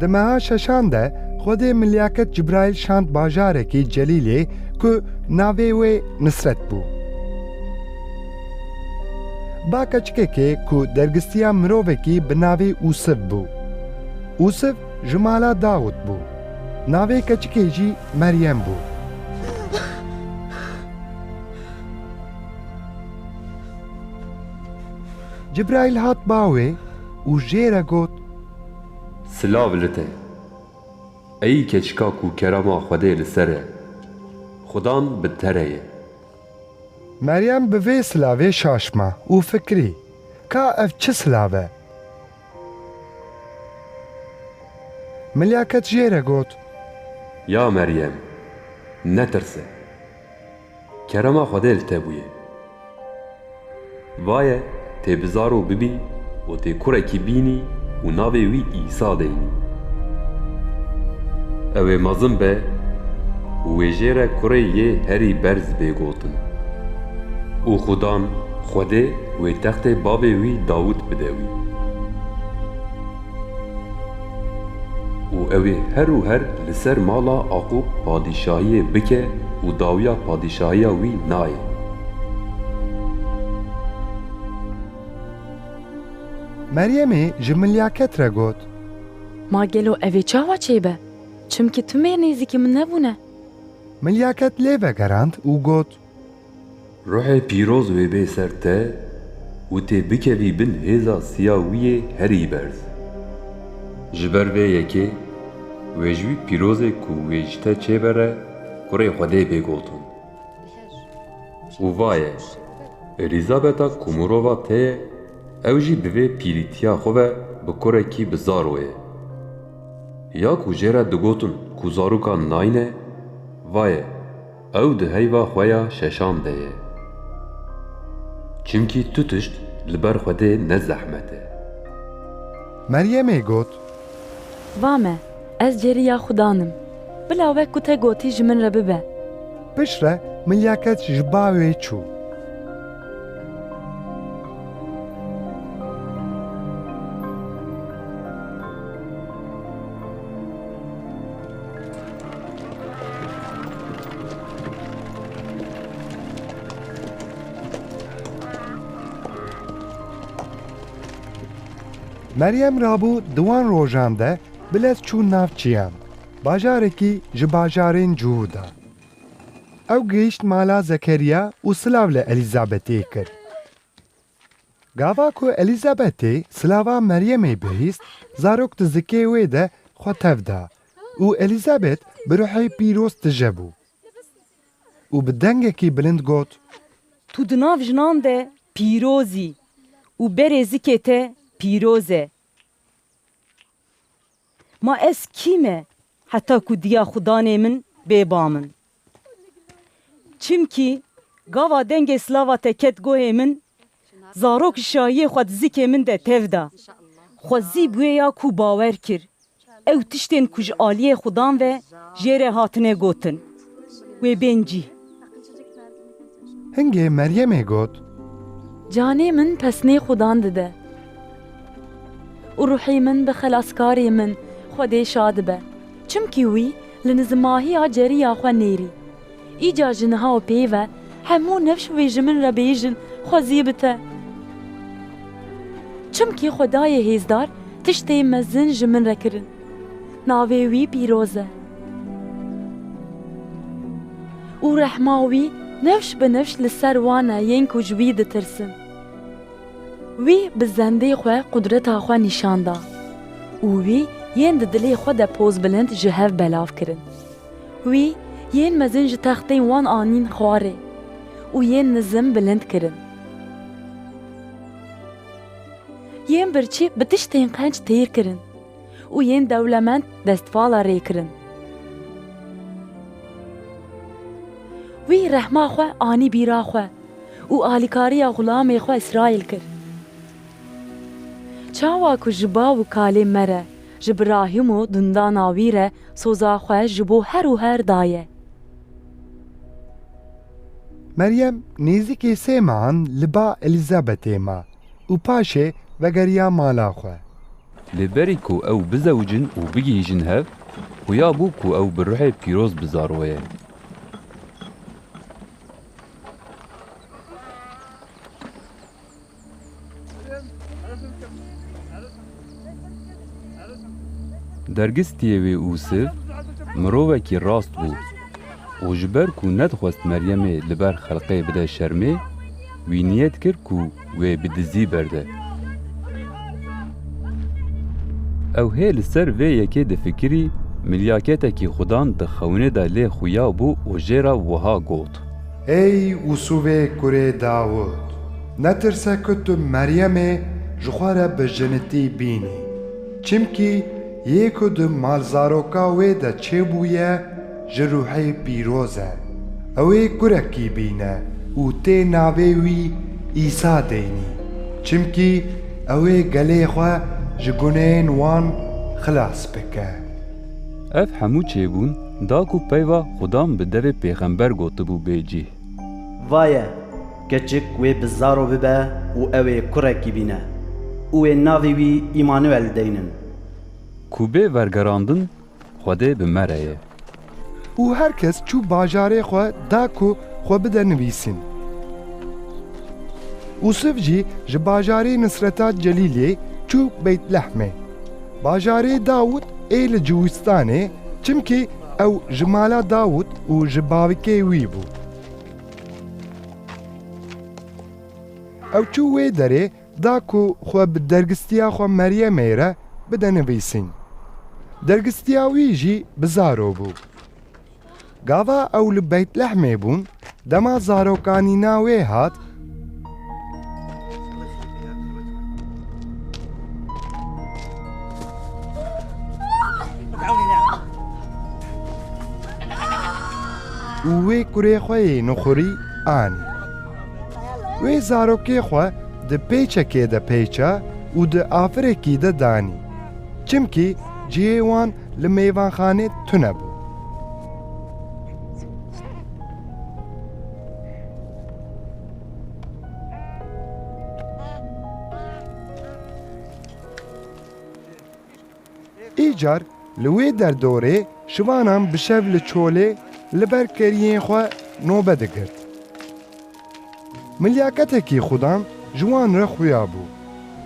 Di meha şeşan de Xwedê Milyaket Cibraîl şand bajarekî Celîlê ku navê wê Nisret bû. Ba keçikekê ku dergistiya mirovekî bi navê Usif bû. Usif Ji mala Dawûd bû. Navê keçikê jî Meryem bû. Cibraîl hat ba wê û jê re got. Silav li te, ey keçika ku kerama Xwedê li ser e, Xwedan bi te re ye. Meryem bi vê silavê şaşma û fikirî, Ka ev çi silav e? Milyaket jê re got. Ya Meryem! Netirse. Kerema Xwedê li te bûye. Vaye tê bi zaro bibî û tê kurekî bînî û navê wî Îsa deynî. Ew ê mezin be û wê jê re kurê yê herî berz bê gotin. Û xudan Xwedê Wê textê bavê wî Dawût bide wî. Û ew ê her û her li ser mala Aqûb padîşahiyê bike û dawiya padîşahiya wî nayê. Meryemê ji Milya Ket re got. Ma gelo ev ê çawa çêbe? Çimkî tu mêr nêzîkî min nebûne. Milya Ket lê vegerand û got. Ruhê pîroz wê bê ser te û tê bikevî bin hêza siya wî yê herî berz. Ji ber vê yekê wê ji wî pîrozê ku wê ji te çêbere kurê Xwedê bê gotin. Û va ye, Elîzabeta ku mirova te ye, ew jî di vê pîrîtiya xwe ve bi kurekî bi zar we ye. Ya ku jê re digotin ku zarokan nayîne, va ye, Ew di heyva xwe ya şeşan de ye. Çimkî tu tişt li ber Xwedê ne zehmet e. Meryemê got. Va me, ez cêrî ya Xudan im. Bila wek ku te gotî ji min re bibe. Piştre milyaket ji ba wê çû. Meryem Rabû di wan rojan de bi lez çû nav çiyan, bajarekî ji bajarên cûr de. Ew gihîşt mala Zekeriya û silav li Elîzabetê kir. Gava ku Elîzabetê silava Meryemê bihîst, zarok di zikê wê de xwe tev da û Elîzabet bi ruhê pîroz tije bû û bi dengekî bilind got, Tu di nav jinan de pîroz î û berê zikê te pîroz e. Ma ez kî me Heta ku diya xwe danê min bê ba min. Çimkî gava dengê silava te ket gohê min, zarok şahiyê xwe di zikê min de tev da. Xwe zî bi wê ya ku bawer kir. Ew tiştên ku ji aliyê xwe dan ve jê re hatine gotin. wê bên cî. Hingê Meryemê got. Canê min pesnê Xudan dide. Û ruhê min bi Xelaskarê min Xwedê şa dibe. Çimkî wî li nizmahiya ceriya xwe nêrî. Îcar ji niha û pê ve hemû nifş wê ji min re bêjin xwe zî bi te. Çimkî Xwedayê Hêzdar tiştê mezin ji min re kirin. Navê wî pîroz e. Û rehma wî nifş bi nifş li ser wan e yên ku ji wî ditirsin. Wî bi zendê xwe qudreta xwe nîşan da û wî yên di dilê xwe de pozbilind ji hev belav kirin. Wî yên mezin ji textên wan anîn xwarê û yên nizim bilind kirin. Yên birçî bi tiştên qenc têr kirin. û yên dewlemend destvala rê kirin. Wî rehma xwe anî bîra xwe û alîkariya xulamê xwe Îsraîl kir. Çawa ku ji bav û kalê me re, ji birahim û dundana wî re soza xwe ji bo her û her daye. Meryem nêzîkê sê mehan li ba Elîzabetê ma. Û paşê vegeriya mala xwe. Lê berî ku ew bizewicin û bigihîjin hev, xuya bû ku ew bi ruhê pîroz bizaroye. Dergistiyê wê Ûsiv mirovekî rast bû û ji ber ku nedixwest Meryemê li ber xelqê bide şermê, wî niyet kir ku wê bi dizî berde. Ew hê li ser vê yekê difikirî, milyaketekî xudan di xewinê de lê xuya bû û jê re wiha got. Ey Usûvê kurê Dawûd! Netirse ku tu Meryemê ji xwe re bi jinitî bînî, çimkî yê ku di malzaroka wê de çêbûye ji Rûhê Pîroz e. Ew ê kurekî bîne û tê navê wî Îsa deynî, çimkî ew ê gelê xwe ji guneyên wan xilas bike. Ev hemû çêbûn da ku peyva Xwedam bi devê pêxember gotibû bê cîh. Vaye, keçik wê bi zaro bibe û ew ê kurekî bîne û wê navê wî Îmanuel deynin. Ku bê vergerandin Xwedê bi me re ye. Û her kes çû bajarê xwe da ku xwe bide nivîsîn. Usif jî ji bajarê Nisreta Celîlê çû Beytlehmê. Bajarê Dawût ê li Cûwistanê çimkî ew ji mala Dawût û ji bavkê wî bû. Ew çû wê derê da ku xwe bi dergîstiya xwe Meryemê re bide nivîsîn. Dergîstiya wî jî bi zaro bû. Gava ew li Beytlehmê bûn, dema zarokanîna wê hat, û wê kurê xwe yê nuxurî anî. Wê zarokê xwe di pêçekê de pêça û di afirekî de danî. Çimkî cihê wan Li mêvanxanê tune bû. Îcar li wê derdorê şivanan bi şev li çolê li ber keriyên xwe nobe digirt. Milyaketekî xudan ji wan re xuya bû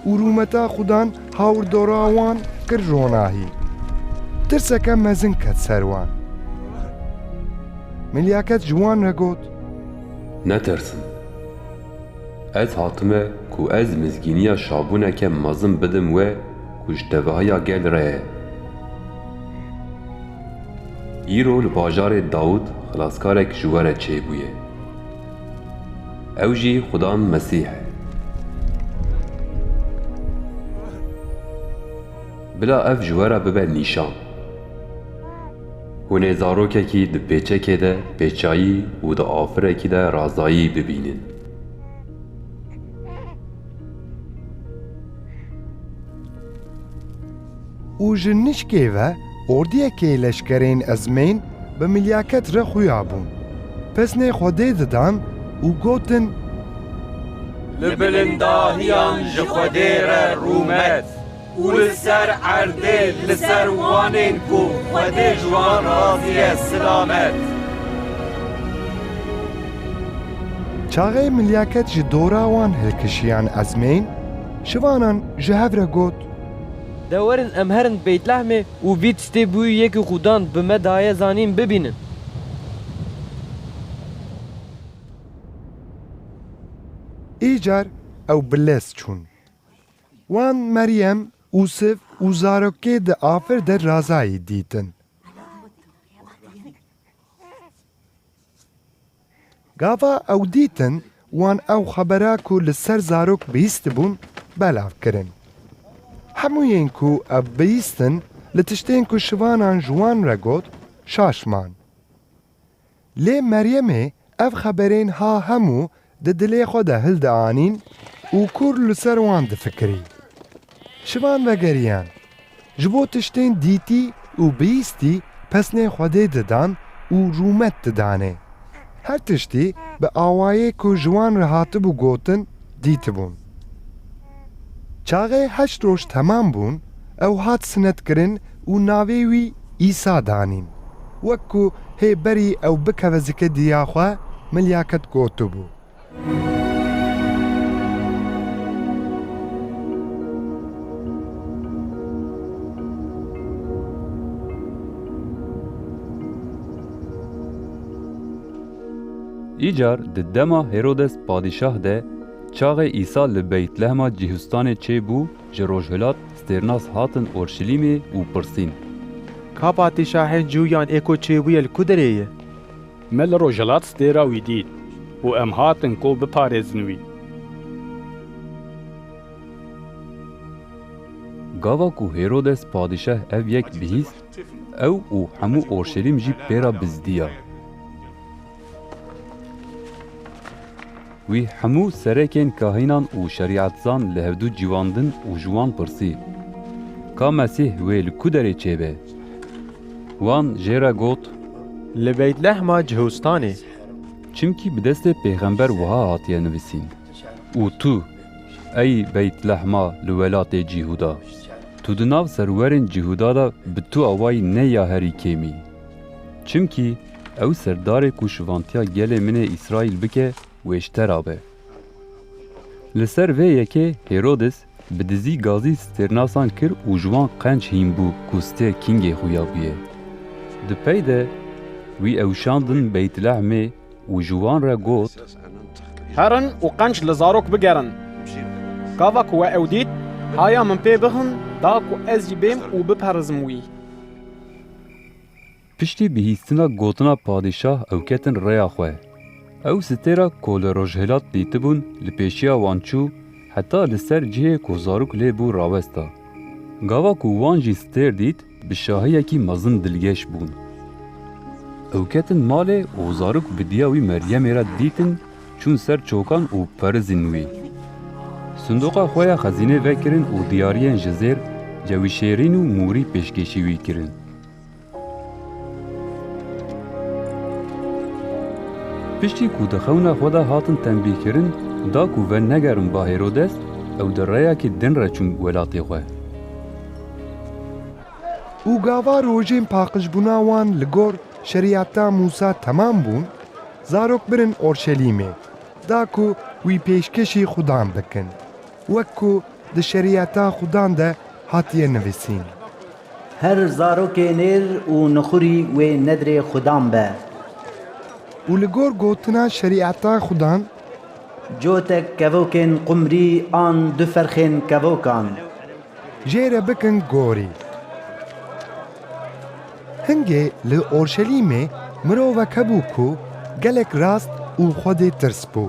û rûmeta xudan hawirdora wan kir ronahî. Tirseke mezin ket ser wan. Milyaket ji wan re got. Netirsin. Ez hatime ku ez mizgîniya şabûneke mezin bidim we ku ji tevahiya gel re ye. Îro li bajarê Dawût xilaskarek ji we re çêbûye. Ew jî Xuda Mesîh e. Bila ev ji we re bibe nîşan. Hûn ê zarokekî di pêçekê de pêçayî û di afirekî de razayî bibînin. û ji nişkê ve ordiyekê leşkerên ezmên bi milyaket re xuya bûn. Pesnê Xwedê didan û gotin, Li bilindahiyan ji Xwedê re rûmet û li ser erdê li ser wanên ku Xwedê ji wan razî ye silamet. Çaxê milyaket ji dora wan hilkişiyan ezmên, şivanan ji hev re got, De werin em herin Beytlehmê û vî tiştê bûyî yê ku Xudan bi me daye zanîn bibînin. Îcar ew bi lez çûn. Wan Meryem, Usif û zarokê di afir de razayî dîtin. Gava ew dîtin wan ew xebera ku li ser zarok bihîstibûn belav kirin. Hemû yên ku ev bihîstin li tiştên ku şivanan ji wan re got şaş man. Lê Meryemê ev xeberên ha hemû di dilê xwe de hil dianîn û kûr li ser wan difikirî. Şivan vegeriyan, ji bo tiştên dîtî û bihîstî pesnê Xwedê didan û rûmet didanê. Her tiştî bi awayê ku ji wan re hatibû gotin dîtibûn. Çaxê heşt roj temam bûn, ew hat sinetkirin û navê wî Îsa danîn. Wek ku hê berî ew bikeve zikê diya xwe, milyaket gotibû. Îcar di dema Hêrodes padîşah de, Çaxê Îsa li Beytlehema cihûstanê çê bû, ji rojhilat stêrnas hatin Orşilîmê û pirsîn. Ka patîşahên cuyan ê ku çêbûye li ku derê ye? Me li rojhilat stêra wî dît û em hatin ku biparêzin wî. Gava ku Hêrodes padîşah ev yek bihîst, ew û hemû Orşilîm jî pê re bizdiya. Wî hemû serekên kahînan û şerîetzan li hevdû ciwan din û ji wan pirsî, Ka Mesîh wê li ku derê çêbe? Wan jê re got. Li Beytlehma Cihustanê. Çimkî bi destê pêxember wiha hatiye nivîsîn, Û tu, ey Beytlehma li welatê Cîhuda, tu di nav serwerên Cîhuda de bi tu awayî ne ya herî kêmî. Çimkî Ew serdarê ku şivantiya gelê min ê Îsraîl bike wêştera be. Li ser vê yekê Hêrodis bi dizî gazî stêrnasan kir û ji wan qenc hîn bû ku stêr kîngê xwe ya bûye. Di pey de wî ew şandin Beytlehmê û ji wan re got, Herin û qenc li zarok bigerin. Gava ku we ew dît, haya min pê bixin da ku ez jî bêm û biperizim wî. Piştî bihîstina gotina padîşah ew ketin rêya xwe. Ew stêra ku li rojhilat dîtibûn li pêşiya wan çû heta li ser cihê ku zarok lê bû rawesta. Gava ku wan jî stêr dît bi şahiyekî mezin dilgeş bûn. Ew ketin malê û zarok bi diya wî Meryemê re dîtin çûn ser çokan û perizîn wî. Sindoqa xwe ya xezînê vekirin û diyariyên ji zêr, cewîşêrîn û mûrî pêşkêşî wî kirin. Piştî ku di xewna xwe de hatin tenbîhkirin da ku ve negerin ba Hêrodes, ew di reyekî din re çûn welatê xwe. Û gava rojên paqijbûna wan li gor Şerîeta Mûsa temam bûn, zarok birin Orşelîmê, da ku wî pêşkêşî xudan bikin. Wek ku di Şerîeta Xwdan de hatiye nivîsîn. Her zarokê nêr û nixurî wê nedrê Xwdan be. Û li gor gotina Şerîeta Xwdan. Cotek kevokên qumrî an du ferxên kevokan. Jê re bikin gorî. Hingê li Orşelîmê mirovek hebû ku gelek rast û Xwedê tirs bû.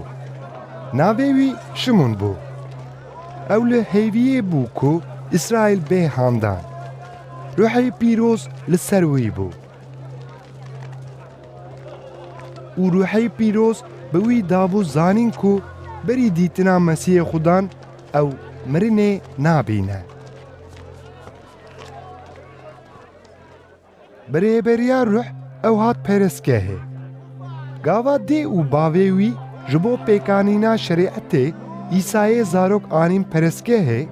Navê wî Şimûn bû. Ew li hêviyê bû ku Îsraîl bê handan. Ruhê Pîroz li ser wî bû û Ruhê Pîroz bi wî dabû zanîn ku berî dîtina Mesîhê Xudan ew mirinê nabîne. Bi rêberiya ruh ew hat perestgehê. Gava dê û bavê wî ji bo pêkanîna şerîetê Îsayê zarok anîn perestgehê.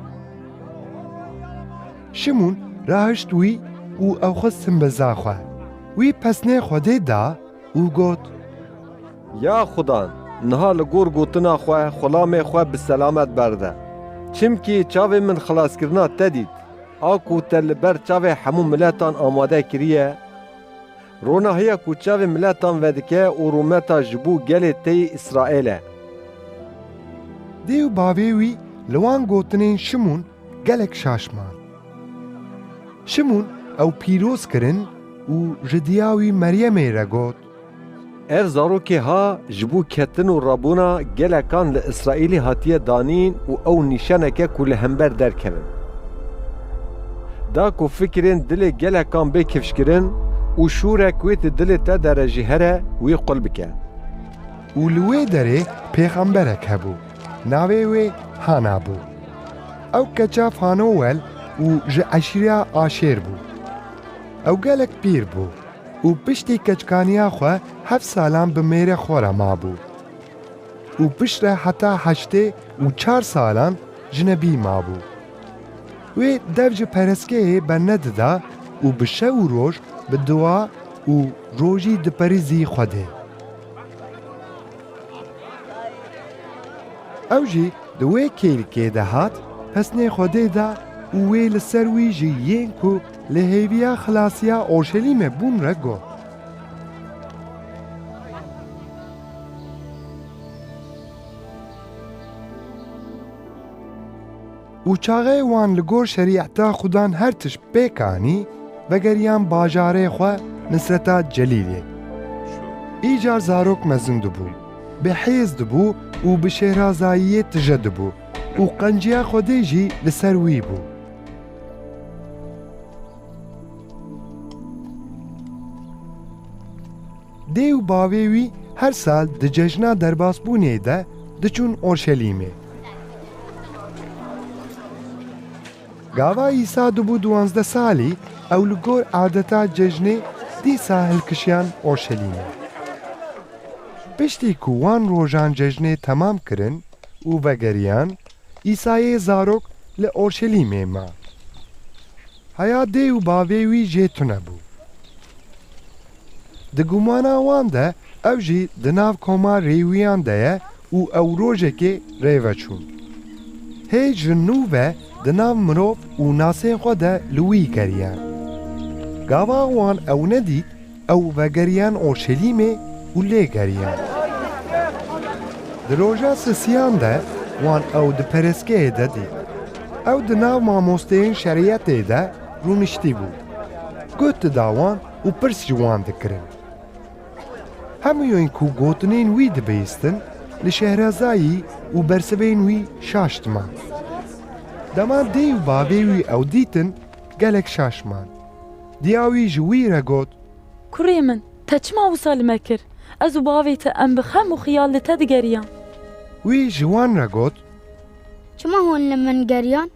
Şimûn rahişt wî û ew xist simbiza xwe. Wî pesnê Xwedê da û got, Ya Xuda, niha li gor gotina xwe xulamê xwe bi selamet berde. Çimkî çavên min xilaskirina te dît. A ku te li ber çavê hemû miletan amade kiriye, rona hêya ku çavê miletan vedike û rûmeta ji bo gelê te yê Îsraîl e. Dê û bavê wî li wan gotinên Şimûn gelek şaş man. Şimûn ew pîroz kirin û ji diya wî Meryemê re got, Ev zarokê ha ji bo ketin û rabûna gelekan li Îsraîlê hatiye danîn û ew nîşaneke ku li hember derkevin da ku fikirên dilê gelekan bê kifşkirin û şûrek wê di dilê te de re jî here wî qul bike. Û li wê derê pêxemberek hebû, navê wê Hana bû. Ew keça Fanûwel û ji eşîreya Aşêr bû. Ew gelek pîr bû. Û piştî keçikaniya xwe heft salan bi mêrê xwe re mabû. Û piştre heta heştê û çar salan jinebî mabû. Wê dev ji pereskeyê bernedida û bi şev û roj bi dua û rojî diperîzî Xwedê. Ew jî di wê kêlikê de hat pesnê Xwedê de û wê li ser wî ji yên ku Li hêviya xilasiya Orşelîmê bûn re got. Û çaxê wan li gor şerîeta Xudan her tişt pêk anî, vegeriyan bajarê xwe Nisreta Celîlê. Îcar zarok mezin dibû, bi hêz dibû û bi şêhrazayiyê tije dibû û qenciya Xwedê jî li ser wî bû. Dê û bavê wî her sal di cejna derbasbûnê de diçûn Orşelîmê. Gava Îsa dibû diwanzdeh salî ew li gor adeta cejnê dîsa hilkişiyan Orşelîmê. Piştî ku wan rojan cejnê temam kirin û vegeriyan Îsayê zarok li Orşelîmê ma. Heya dê û bavê wî jê tune bû. Di gumana wan de ew jî di nav koma Rêwîyan de ye û ew rojekê rê veçûn. Hê ji nû ve di nav mirov û nasên xwe de li wî geriyan. Gava wan ew nedît, Ew vegeriyan Urşelîmê û lê geriyan. Di roja sisiyan de wan ew di pereskeyê de dît. Ew di nav mamosteyên şerîetê de rûniştî bû. Guh dida wan û pirs ji wan dikirin. Hemûyên ku gotinên wî dibihîstin li Şehrezayî û bersivên wî şaştman. Dema dê û bavê wî ew dîtin gelek şaşman. Diya wî ji wî re got. Kurê min, te çima wisa li me kir? Ez û bavê te em bi xem û xiyal li te digeriyan. Wî ji wan re got. Çima hûn li min geriyan?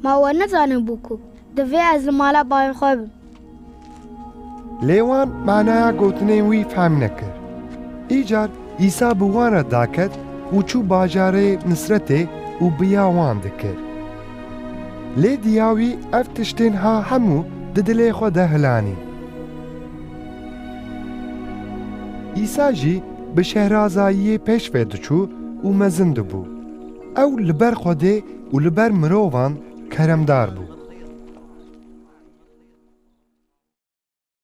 Ma we nezanibû ku divê ez li mala bavê xwe bim? Lê wan manaya gotinên wî fehm nekir. Îcar Îsa bi wan re daket û çû bajarê Nisretê û biya wan dikir. Lê diya wî ev tiştên ha hemû di dilê xwe de hilanî. Îsa jî bi şehrazayiyê pêş ve diçû û mezin dibû. Ew li ber Xwedê û li ber mirovan keremdar bû.